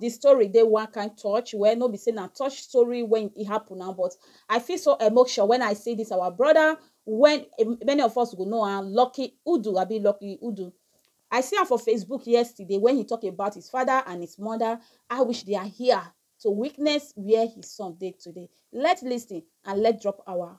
Di story dey one kind touch, well no be say na touch story wen e happen na but I feel so emotion wen I see dis our brother wen many of us go know am Lucky Udu abi Lucky Udu I see am for Facebook yesterday wen he talk about his father and his mother I wish they are here to witness where his son dey today let's listen and let's drop our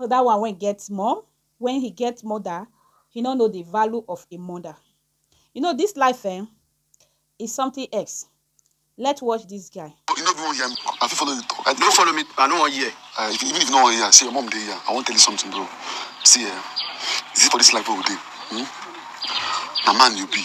So that one wey get mom, when he get mother, he no know the value of a mother. You know this life eh, is something else. Let's watch this guy. You no even wan hear me. I fit follow you talk. I No follow me. I no wan hear. Uh, even if you no wan hear, see your mom dey here. I wan tell you something, bro. See, eh, is it for this life wey we dey? Hmm? Na man you be.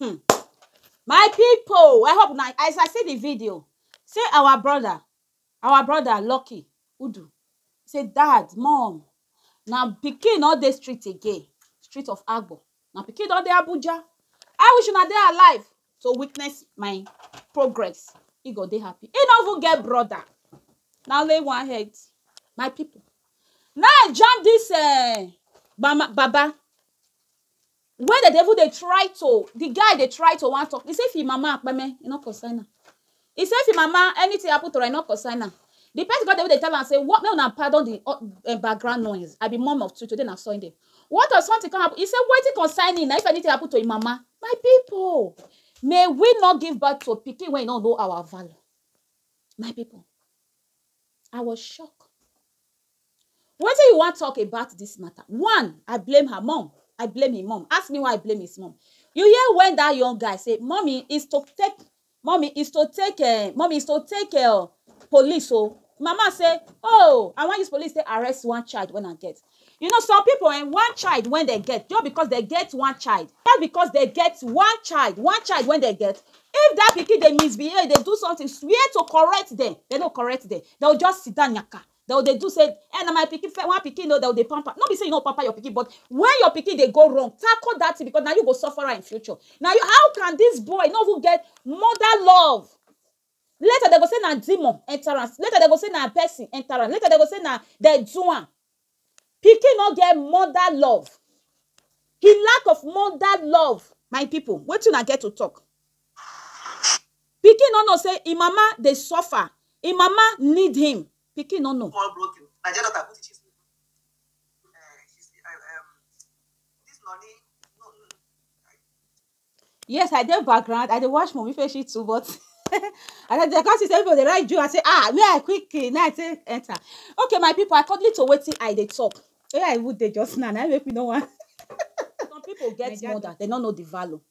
Hmmm my people I hope una as I see the video see our brother our brother lucky udu say dad mum na pikin no dey street again street of agbor na pikin don dey Abuja I wish una dey alive to witness my progress he go dey happy he no even get brother na only one head my people na him jam this ehh mama baba When dem dey even dey try to, the guy dey try to wan talk, he say if him mama kpeme, e no concern am. He say if him mama anything happen to am, e no concern am. The person con dey even dey tell am say what, make una pardon the um background noise, I be mum of two, today na Sunday. What of something con happen, he say wetin concern him na if anything happen to him mama. My people! May we not give birth to pikin wey e no know our value. My people! I was shocked. Wetin you wan talk about this matter? One, I blame her mum, I blame im mum. Ask me why I blame his mum. You hear when that young guy say, Mummy is to take, mummy is to take um, mummy is to take um police oh. Mama say, oh, I wan use police take arrest one child when I get. You know some people um, one child when they get, just because they get one child, just because they get one child, one child when they get, if that pikin dey misbehave, dey do something, swear to correct them, they no correct them. They will just sit down yaka. Dem go dey do say eh na my pikin first one pikin oh, dem go dey pamper, no be say you no go pamper your pikin but when your pikin dey go wrong, tackle that thing because na you go suffer am in future. Na you, how can this boy no even get mother love? Later dem go say na demon enter am, later dem go say na person enter am, later dem go say na dem do am. Pikin no get mother love. The lack of mother love, my people, wetin una get to talk? Pikin no know say im mama dey suffer, im mama need him, pikin no know. Call broken Naija daughter put it she's Yes, I dey background. I dey watch movie Feshi too, but and I dey come see say people dey write Jew. I say, ah, me I quick eh, now I say enter. Okay, my people, according to wetin I dey talk, where I would dey just now, now make me no want. Some people get Naija mother, they no know the value.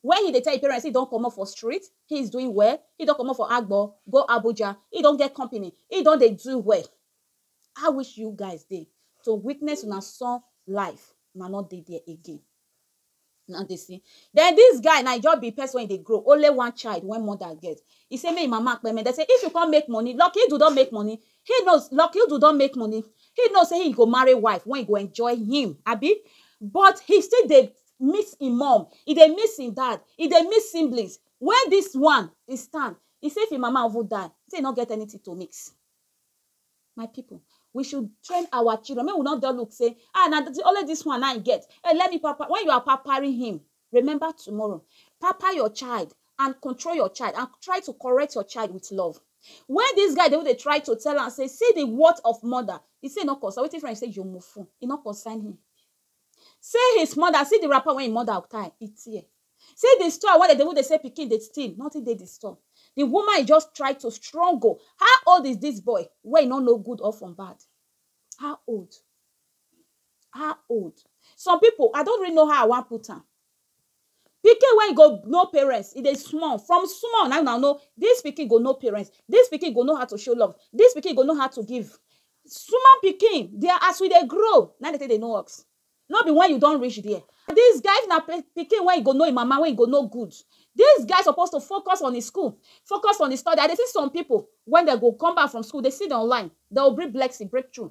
Where he dey tell him parents say he don comot for street, he is doing well, he don comot for agbo go Abuja, he don get company, he don dey do well. How wish you guys dey to witness una son life, una no dey there again. Una dey see. Den dis guy na e just be person wey e dey grow, only one child wey mother get. He say make e mama kpeme, dem say if you come make money, Lucky Dube don make money, he know, Lucky Dube don make money, he know say he go marry wife wey go enjoy him, abi? But he still dey miss im mum, e dey miss im dad, e dey miss siblings. Where dis one dey stand, e say if im mama even die, e say e no get anything to mix. My people, we should train our children, make we no just look say, ah, na only dis one na im I get, eh, let me pamper, when you are pampering him, remember tomorrow. Pamper your child and control your child and try to correct your child with love. When dis guy dey even dey try to tell am say, see the worth of mother, e say e no concern, wetin friend say, you mufu, e no concern him. See his mother, see the wrapper wey him mother tie, e tear. See the store wey dem dey even dey sell pikin dey steal, nothing dey the store. The woman e just try to struggle. How old is this boy wey e no know good or from bad? How old? How old? Some people, I don't really know how I wan put am. Pikin wey go know parents e dey small from small na una know dis pikin go know parents dis pikin go know how to show love dis pikin go know how to give small pikin dey as we dey grow na dey take dey know us no be when you don reach there dis guy if na pikin wey go know him mama wey go know good dis guy suppose to focus on his school focus on his study I dey see some people when dem go come back from school dey sit down online dey go bring blessing breakthrough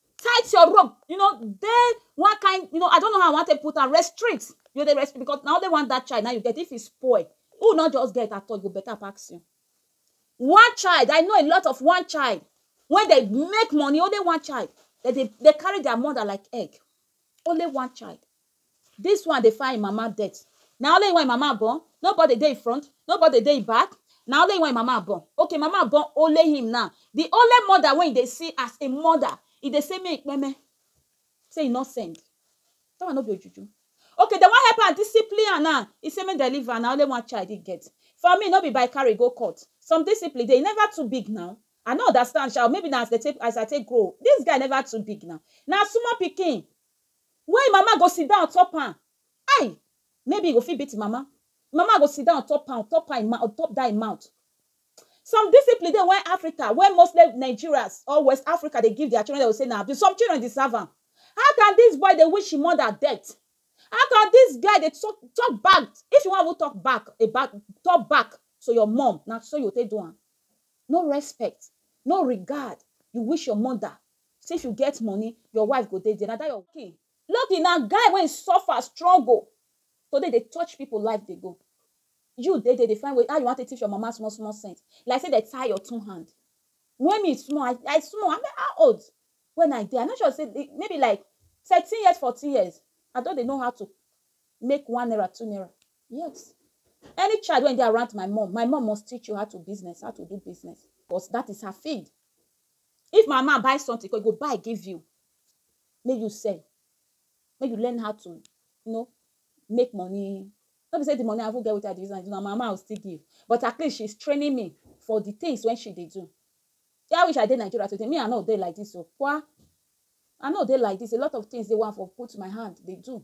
tight your rope you know dey one kind you know i don't know how i want to put am restrict you dey restrict because na only one that child now you get if e spoil who not just get at all you go better pass you one child i know a lot of one child when they make money only one child they dey they carry their mother like egg only one child This one dey find him mama death na only him wan him mama born nobody dey him front nobody dey him back na only him wan him mama born okay him mama born only him now the only mother wey he dey see as a mother he dey say make he kpeme say he no send that one no be ojuju okay dem wan help am discipline am now he say make dem leave am na only one child him get for me no be by carry go court some discipline dey he never too big now I no understand sha or maybe na as dem take as I take grow this guy never too big now na small pikin Wey im mama go sit down on top am. Ai! Maybe e go fit beat im mama. Im mama go sit down on top am, on top am, on top dat im mouth. Some discipline dey wey Africa, wey mostly Nigerians or West Africa dey give dia children, dem go say na abuse. Some children deserve am. How can dis boy dey wish im mother death? How can dis guy dey talk talk bad? If you wan even talk back about, talk back to your mum, na so you go take do am. No respect, no regard, you wish your mother Since you get money, your wife go dey there, na that your. Lucky, Lucky na guy wey suffer, struggle to dey dey touch people life dey go, you dey there dey find way how you wan take teach your mama small small sense like say dem tie your two hand. When me small, I I small, I mean how old when I dey, I no sure say maybe like thirteen years, fourteen years, I don dey know how to make one naira, two naira, yes, any child wey dey around my mum, my mum must teach you how to business, how to do business, cos that is her field. If my man buy something come, he go buy give you make you sell, make you learn how to you know make money. No be say the money I even get wetin I dey use am do, na my mama I go still give. But at least she's training me for the things wey she dey do. Shey I wish I dey Nigeria today, me I no dey like dis o kwa. I no dey like dis, a lot of things dey wey I for put my hand dey do.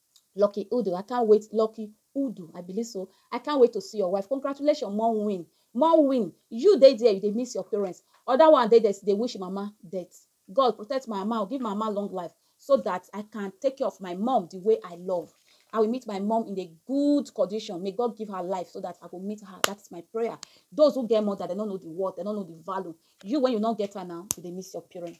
Lucky Udu I can't wait Lucky Udu I believe so I can't wait to see your wife congratulations mom win mom win you dey there you dey miss your parents other one dey there dey wish mama death God protect my mama give my mama long life so that I can take care of my mom the way I love I will meet my mom in a good condition. May God give her life so that I will meet her. That's my prayer. Those who get mother, they don't know the word, they don't know the value. You, when you don't get her now, you they miss your parents.